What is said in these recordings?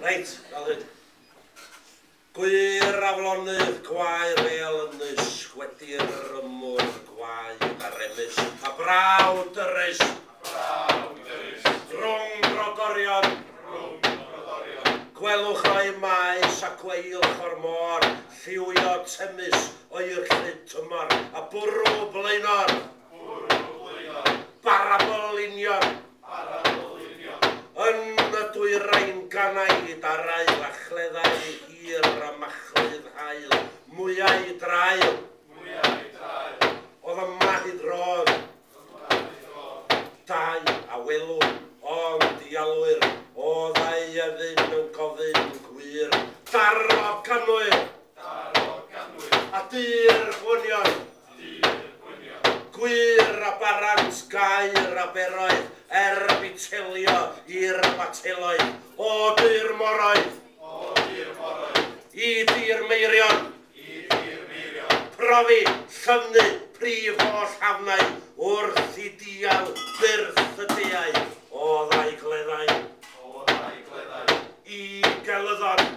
Reit, fel hyn. Gwyr aflonydd gwae rêl ynys, gwedi'r ymwr gwae gyda remus, a braw dyrys, a braw dyrys, rhwng brodorion, rhwng brodorion, gwelwch o'i maes a gweilch o'r môr, lliwio temys o'i rhyd tymor, a bwrw blaenor, Bwrw gwaelod. Barabl union. Barabl union. Yn y dwyrain ganaid ar ail a chleddau hir a machlud haul, mwyau draul. Mwyau draul. Oedd y mahud rodd. Y mahud rodd. Dau a welwn, ond dialwyr, oddai ydyn yn gofyn gwir. Darog ganwyr. Darog ganwyr. A dy'r gwynion. Dydd gwyliau. Gwyr a barant gair aberoedd er bu telio i'r bateloedd o du'r moroedd. O du'r moroedd. I du'r meirion. I du'r meirion. Profi, llyfnu, prif oll hafnau wrth i dial byrth y deau o ddau gleddau. O ddau gleddau. I gelyddon.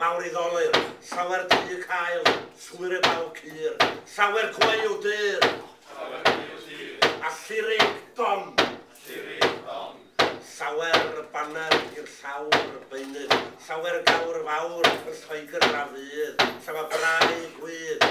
Mawriddolur, llawer du y cael, llwyr y baw cur, llawer gwaew dur. Llawer gwaew dur. A llirig don. A llirig don. Llawer baner i'r llawr beunydd, llawer gawr fawr yn Lloegr a fydd, llawer brau gwydd.